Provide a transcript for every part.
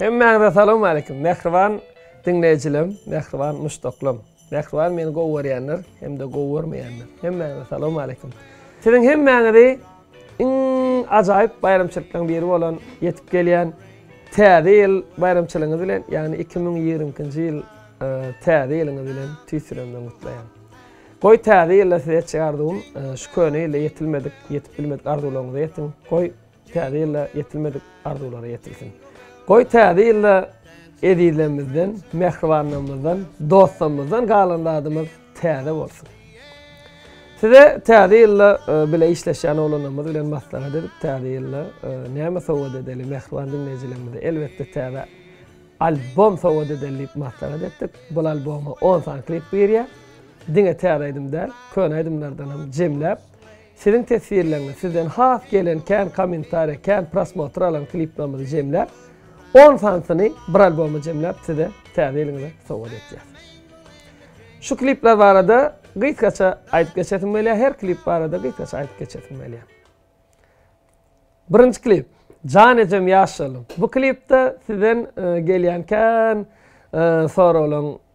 Hemmäňize salam aleýkum mähriban diňleýjilem mähriban muşdaklam mähriban meni gowy görýänler hem-de gowy görmeýänler hemmäňize salam aleýkum siziň hemmäňizi iň ajaýyp baýramçylyklaryň biri bolan ýetip gelýän täze ýyl baýramçylygyňyz bilen ýagny iki müň ýigrimi ikinji ýyl täze ýylyňyz bilen tüýs ýüregimden gutlaýan goý täze ýylda size etjek arzuwym şu köne ýylda ýetilmedik ýetip bilmedik arzuwlaryňyza ýetiň goý Täze ýylda ýetilmedik arzuwlara ýetilsin. Goý täze ýylda ezizlerimizden, mähribanlarymyzdan, dostlarymyzdan galan zadymyz täze bolsun. Size täze ýylda e, bile işleşýän oglanlarymyz bilen maslahat edip, täze ýylda e, näme sowgat edeli mähriban diňleýjilerimize? Elbetde täze albom sowgat edeli diýip maslahat etdik. Bu alboma 10 sany klip girýär. Diňe täze aýdym däl, köne aýdymlardan hem jemläp Siziň teswirleriňiz, sizden has gelen kän kommentariýa, kän prosmotr alan kliplerimizi jemläp, on sanysyny bir alboma jemläp size täze ýylyňyza sowgat etýäs. Şu klipler barada gysgaça aýdyp geçesim gelýär, her klip barada gysgaça aýdyp geçesim gelýär. Birinji klip, Jan ejem ýaş şalyň. Bu klipde sizden e, gelýän kän e, soraglaryň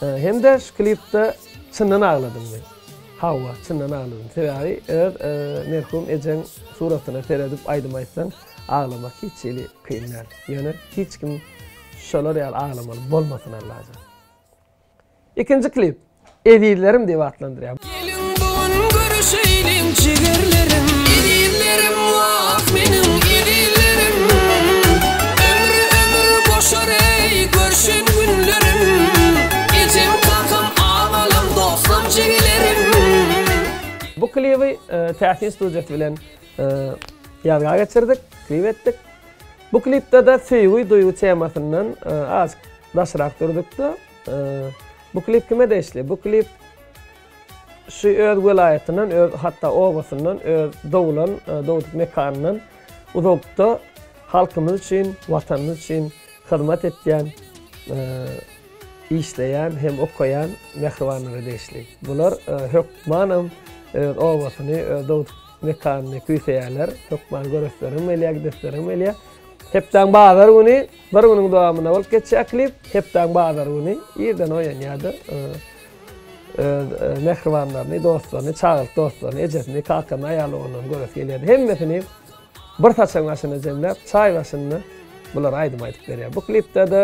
Hem-de şu klipde çyndan agladyňmy? Hawa, çyndan agladym. Sebäbi öz merhum ejeň suratyna seredip aýdym aýtsaň, aglamak hiç hili kyn däl. Ýöne hiç kim şolar ýaly aglamaly bolmasyn Allajan. Ikinji klip Ezizlerim diýip atlandyrýar. Geliň bu gün görüşeýliň jigerlerim. Ezizlerim wah meniň ezizlerim. Ömri ömür goşar eý görşen günlerim. Ejem kakam agalam dostam jigelerim. Bu klibi Täsin studiýasy bilen ýazga geçirdik, klip etdik. Bu klipde-de söýgi, duýgy temasyndan azk daşrak durduk-da. Bu klip kime degişli? Bu klip. Şu öz welaýatyndan, öz hatda obasyndan, öz doglan, dogduk mekanyndan uzakda halkymyz üçin, Watanymyz üçin hyzmat etýän, işleýän hem okaýan mähribanlara degişli. Bular hökmanam öz obasyny, öz dogduk mekanyny küýseýärler. Hökman göresleriňem gelýär, gidesleriňem gelýär. Hepdäň bazar güni, bir günüň dowamynda bolup geçýär klip. Hepdäň bazar güni irden oýanýardyr. öz mähribanlaryny, dostlaryny, çagalyk dostlaryny, ejesini, kakany, aýal-ogluny göresi gelýärdi. Hemmesini bir saçagyň başynda jemläp, çaý başynda bular aýdym aýdyp berýär. Bu klipde-de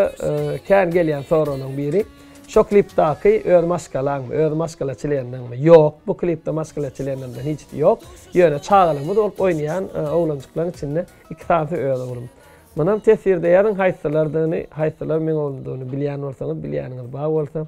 kän gelýän soragyň biri, şo klipdaky öz maşgalaňmy, öz maşgala çlenleriňmi? Ýok, bu klipde maşgala çlenlerimden hiç kim ýok. Ýöne çagalygymyz bolup oýnaýan oglanjyklaryň içinde iki sanysy öz oglum. Munam teswirde ýazyň haýsylardygyny, haýsylar meň oglumdygyny bilýän bolsaňyz, bilýäniňiz bar bolsa.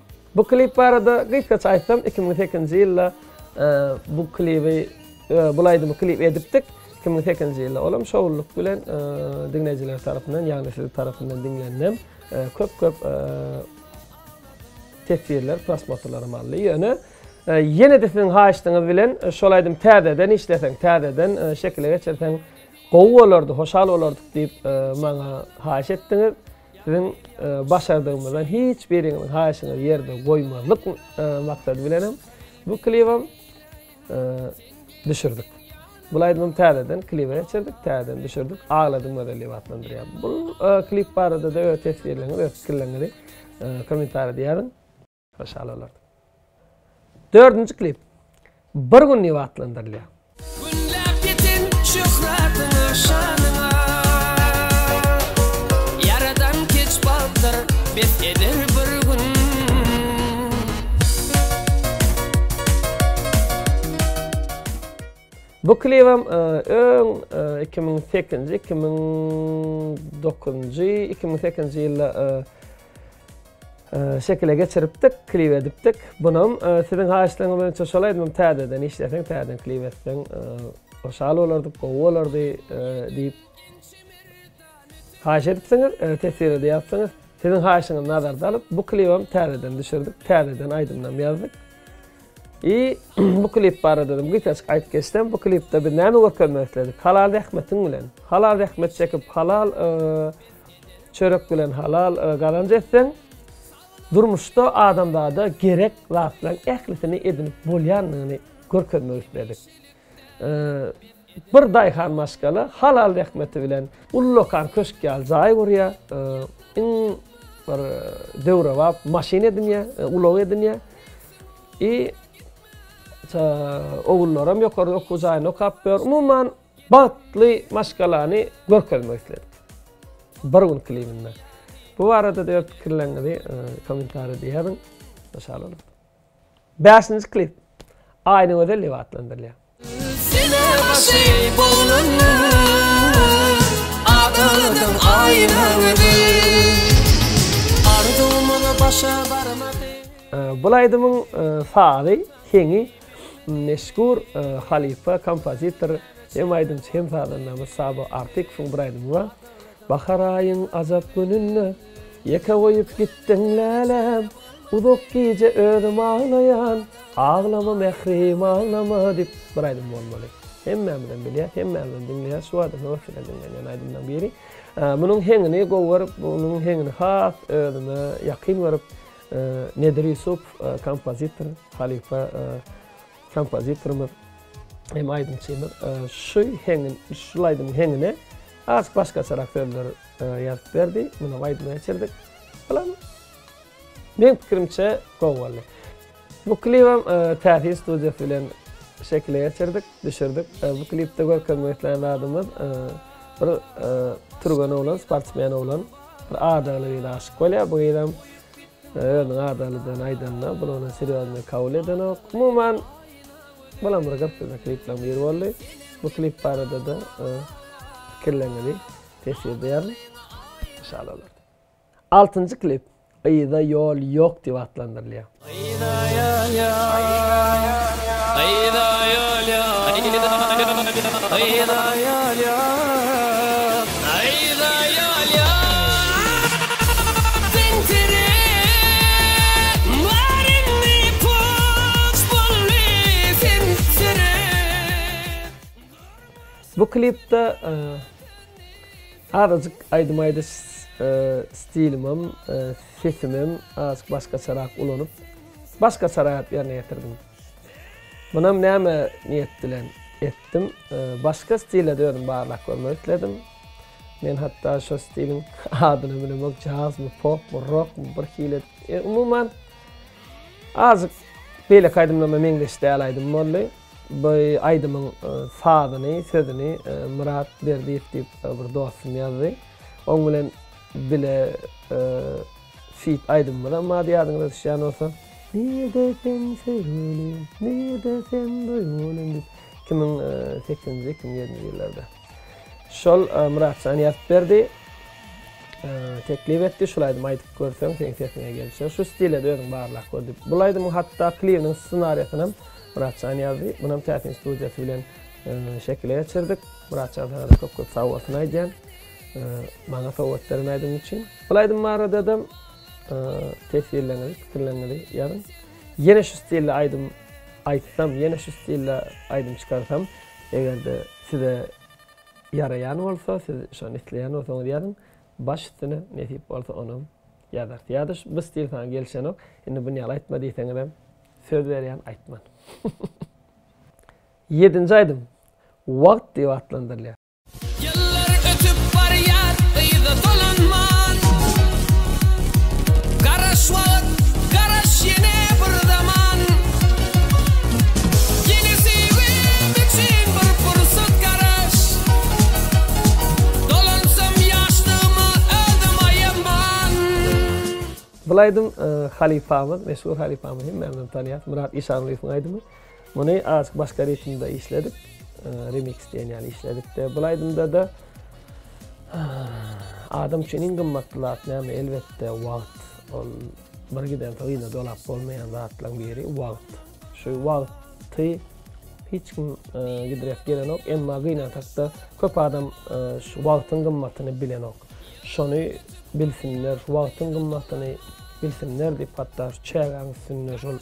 Bu klip barada gysgaça aýtsam iki müň sekizinji ýylda bu klibi bul aýdymy klip edipdik iki müň sekizinji ýylda olam şowlylyk bilen diňleýjiler tarapyndan ýagny siziň tarapyndan diňlendim köp köp teswirler prosmotrlaram aldy ýöne ýene-de siziň haýyşdyňyz bilen şol aýdymy täzeden işleseň täzeden şekile geçirseň gowy bolardy hoşal bolardyk diýip maňa haýyş etdiňiz Siziň başardygyňyzdan hiç biriňiziň haýyşyňyzy ýerde goýmazlyk maksady bilenem bu klibem düşürdik. Bu aýdymym täzeden klibe geçirdik, täzeden düşürdik. Agladym gözel diýip atlandyrýar. Bu klip barada-da öz teswirleriňizi, öz pikirleriňizi kommentariýada ýazyň. Maşalalar. Dördünji klip bir gün diýip atlandyrylýar. Günläp ýetin şöhratyňa şanyňa Ýaradan keç bagtyr bet eder bir gün Bu klibem öň iki müň sekizinji, iki müň dokuzynjy, iki müň sekizinji ýylda Şekile geçiripdik, klip edipdik. Bunam siziň haýyşlaryňyz boýunça şol aýdymym täzeden işleseň, täzeden klip etseň, hoşal bolardyk, gowy bolardy diýip haýyş edipsiňiz, teswirede ýazsyňyz. Siziň haýyşyňyzy nazarda alyp, bu klibem täzeden düşürdik, täzeden aýdymnam ýazdyk. I bu klip barada hem gysgaçyk aýdyp geçsem, bu klipde biz näme görkezmek isledik? Halal zähmetiň bilen. Halal zähmet çekip, halal Çörek bilen halal gazanç etseň, durmuşda adamzada gerek zatlaryň ählisini edinip bolýandygyny görkezmek isledik. Bir daýhan maşgala halal zähmeti bilen ullakan köşk ýaly jaý gurýar, iň bir döwrebap maşyn edinýär, ulag edinýär. I. Ogullaram ýokary okuw jaýynda okap ýör. Umuman, Bagtly maşgalany görkezmek isledik. Bir gün klibinde. Bu barada-da öz pikirleriňizi kommentariýada ýazyň. Şa boluň. Bäşinji klip Aýnygözel diýip atlandyrylýar. Sene başy bolundy, Adyň Aýnagözel. Arzuwymyz başa barmady. Bul aýdymyň sazy, heňi Meşhur halypa kompozitor hem aýdymçy hem sazandamyz Sabo Artykowyň bir aýdymy bar. Bahar aýyň ajap gününde Ýeke goýup gitdiň läläm Uzak gije özüm aglaýan Aglama mährim aglama diýip bir aýdym bolmaly. Hemmämizem bilýäs, hemmämizem diňleýäs şu wada höwesjeň diňlenýän aýdymlaryň biri. Munuň heňini gowy görüp, munuň heňini has özüme ýakyn görüp, Nedir Ýusupow kompozitor, halypa kompozitorymyz hem aýdymçymyz. Şu heňin, şul aýdymyň heňine az başgaçarak sözler ýazyp berdi. Muny hem aýdyma geçirdik. Bulam meň pikirimçe gowy boldy. Bu klibem Täsin studiýasy bilen şekile geçirdik, düşürdik. Bu klipde görkezmek islän zadymyz bir türgen oglan, sportsmen oglan. Bir adagly gyza aşyk bolýar. Bu gyzam özüniň adaglydygyny aýdanda, bul ony serýoznyý kabul edenok. Umuman, bulam bir gyzykly kliplaryň biri boldy. Bu klip barada-da pikirleriňizi teşwir edýärin. Inşallah olar. Altynjy klip Yza ýol ýok diýip atlandyrylýar. Bu klipde azajyk aýdym aýdyş stilimem Sesimem azk başgaçarak ulanyp, başgaçara aýp ýerine ýetirdim. Munam näme niýet bilen etdim. Başga stilede özüm barlak görmek isledim. Men hatda şo stiliň adyny bilemok, jazmy, popmy, rokmy bir hili. Umuman azk beýleki aýdymlarma meňzeş däl aýdym boldy. Bu aýdymyň sazyny, sözüni Myrat Berdiýew diýip bir dostum ýazdy. Oň bilen Bile feat aýdymymyzam bar ýadyňyza düşýän bolsa. Nirde sen söýgülim, nirde sen duýgulim diýip. Iki müň sekizinji, iki müň ýedinji ýyllarda. Şol Myratjan ýazyp berdi. Teklip etdi, şul aýdymy aýdyp görseň, seň sesiňe gelişer. Şu stile-de özüň barlap gör diýip. Bul aýdymyň hatda klibiniň ssenariýasyny Myratjan ýazdy. Munam Täsin studiýasy bilen şekile geçirdik. Myratjan sana-da köp-köp sag bolsun aýdýan. Maňa sowgat beren aýdymyň üçin. Bul aýdym baradadam teswirleriňizi, pikirleriňizi ýazyň. Ýene şu stilde aýdym aýtsam, ýene şu stilde aýdym çykarsam, eger-de size ýaraýan bolsa, siz şony isleýän bolsaňyz ýazyň. Baş üstüne, nesip bolsa onam ýazarys. Ýa-da bu stil saňa gelişenok, indi buny ýaly aýtma diýseňizem, söz berýän aýtman. Ýedinji aýdym Wagt diýip atlandyrylýar. Ýyllar ötüp barýar yza dolanman Garaş wagt, garaş ýene bir zaman Ýene söýgim üçin bir pursat garaş Dolansam ýaşlygyma özüm aýaman. Bul aýdym halypamyz, meşhur halypamyz hemmämizem tanýas, Myrat Işanlyýewiň aýdymy. Muny azk başga ritmde işledik. Remix diýen ýaly işledikde. Bu aýdymda-da adam üçin iň gymmatly zat näme? Elbetde, wagt. Ol bir giden soň ýene dolap bolmaýan zatlaryň biri wagt. Şu wagty hiç kim gidräp gelenok, emma gynansakda köp adam şu wagtyň gymmatyny bilenok. Şony bilsinler, şu wagtyň gymmatyny bilsinler diýip hatda şu çägäň üstünde şol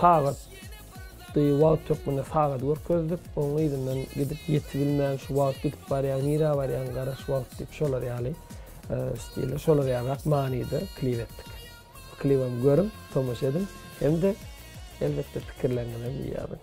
Sagatdy, wagt hökmünde sagady görkezdik. Onuň yzyndan gidip ýetibilmän şu wagt gidip barýaň, nirä barýaň, gara şu wagt diýip şolar ýaly stilde, şolar ýalyrak manyda klip etdik. Klibem görüň, tomaşa ediň hem-de elbetde pikirleriňizem ýazyň.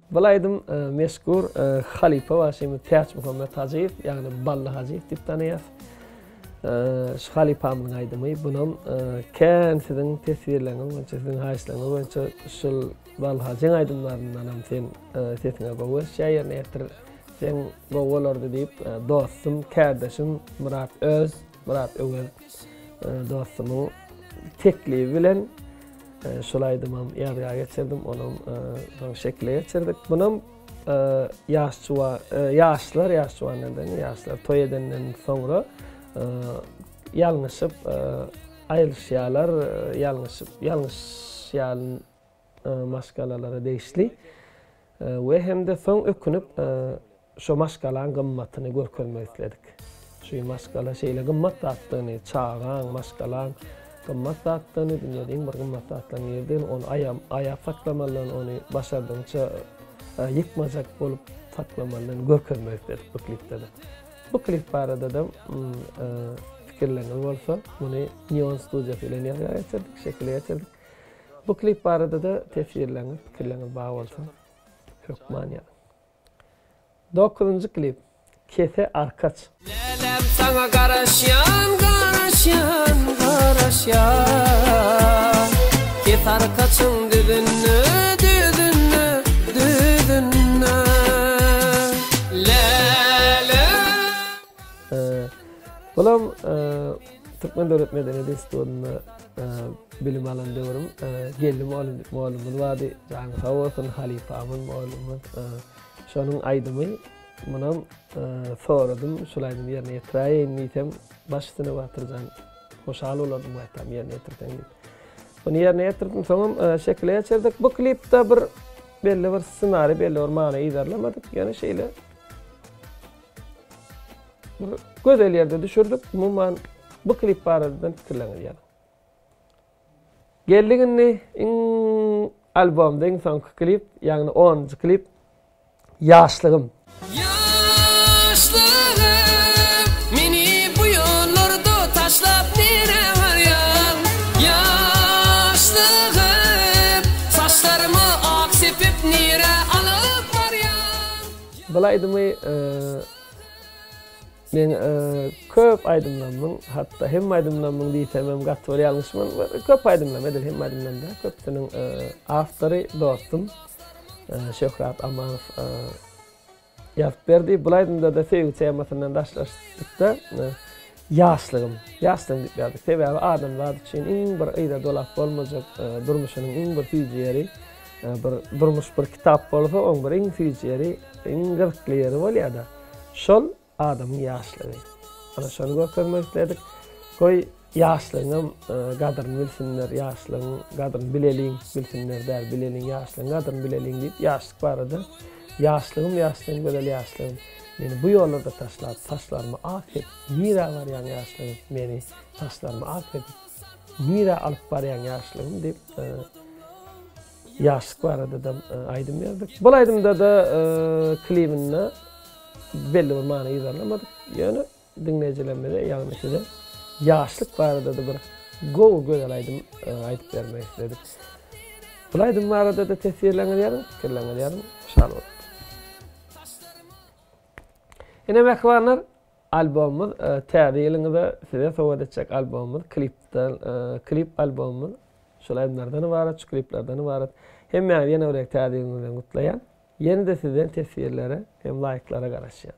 Bul aýdym meşgur halypa bagşymyz Täçmuhammet Hajyýew, ýagny Bally Hajyýew diýip tanaýas. Şu halypamyň aýdymy, bunam kän siziň teswirleriňiz boýunça, siziň haýyşlaryňyz boýunça şul Bally Hajyň aýdymlaryndanam sen sesiňe gowy gelişýär, ýerine ýetir, seň gowy bolardy diýip dostum, kärdeşim Myrat Öz. Myrat Öwez dostumyň teklibi bilen şol aýdymam ýazga geçirdim, onam soň şekile geçirdik. Munam ýaş juwa, ýaşlar, ýaş juwandan deň, ýaşlar toý edenden soňra ýalňyşyp aýrylyşýarlar, ýalňyşyp, ýalňyşýan maşgalalara degişli we hem-de soň ökünip şo maşgalaň gymmatyny görkezmek isledik. Şu maşgala şeýle gymmat zatdygyny, çagaň, maşgalaň gymmat zatdygyny, dünýäde iň bir gymmat zatlaryň biridigini, ony aýam aýap saklamalydygyny, ony başardygyňça ýykmajak bolup saklamalydygyny görkezmek isledik bu klipde-de. Bu klip barada-da fikirleriňiz bolsa, muny Neon studiýasy bilen ýazga geçirdik, şekile geçirdik. Bu klip barada-da tesirleriňiz, pikirleriňiz bar bolsa, hökman ýazyň. Dokuzynjy klip, Kese arkaç. Lälem saňa garaşýan, garaşýan, garaşýan. Kes arkaçyň düzünde, düzünde, düzünde. Lälem. Bulam Türkmen döwlet medeniýet institutynda Bilim alan döwrüm Geldi molumuz vardy. Jany sag bolsun halypamyz molumyz. Şonuň aýdymy munam soradym, şol aýdymy ýerine ýetiräýeýin diýsem, baş üstüne Batyrjan hoşal bolardym gaýtam ýerine ýetirseň diýip. Bunu ýerine ýetirdim. Soňam e, şekile geçirdik. Bu klipde bir belli bir ssenari, belli bir many yzarlamadyk. Ýöne şeýle Bir gözel ýerde düşürdik. Umuman bu klip barada pikirleriňizi ýazyň. Geldik indi iň albomda iň soňky klip, ýagny 10-njy klip Ýaşlygym. Ýaşlygym, meni bu ýollarda taşlap nirä barýaň? Ýaşlygym, saçlarymy ak sepip nirä alyp barýaň? Bul aýdymy men köp aýdymlarymyň hatda hemme aýdymlarymyň diýsemem gaty bir ýalňyş bolmaz. Köp aýdymlarym edil hemme aýdymlarym däl. Köpüsiniň awtory dostum Şöhrat Amanow ýazyp berdi. Bul aýdymda-da söýgi temasyndan daşlaşdykda Ýaşlygym, ýaşlygym diýip ýazyp, sebäbi adam zat üçin iň bir yza dolap bolmajak durmuşynyň iň bir süýji ýeri, bir durmuş bir kitap bolsa, oň bir iň süýji ýeri, iň gyzykly ýeri bolýar-da, şol adamyň ýaşlygy. Ana şony görkezmek isledik. Goý, ýaşlygyňam gadyryny bilsinler, ýaşlygyň gadyryny bileliň, bilsinler däl, bileliň, ýaşlygyň gadyryny bileliň diýip, ýaşlyk barada, Ýaşlygym, ýaşlygym, gözel ýaşlygym. Meni bu ýollarda taşlap saçlarymy ak edip nirä barýaň ýaşlygym meni saçlarymy ak edip nirä alyp barýaň ýaşlygym diýip e, ýaşlyk barada da e, aýdym berdik. Bu aýdymda da e, klibinde belli bir many ýazylmadyk. Ýöne Diňleýjilerimize ýagny size ýaşlyk barada-da bir gowy gözel aýdym aýdyp bermek isledik. Bul aýdym barada-da teswirleriňizi ýazyň, pikirleriňizi ýazyň. Şat boluň. Ine mähribanlar, albomymyz Täze ýylyňyza size sowgat etjek albomymyz, klipden klip albomymyz şol aýdymlardan ybarat, şu kliplerden ybarat. Hemmäňizi ýene bir gezek Täze ýylyňyz bilen gutlaýan. Ýene-de sizden teswirlere hem laýklara garaşýan.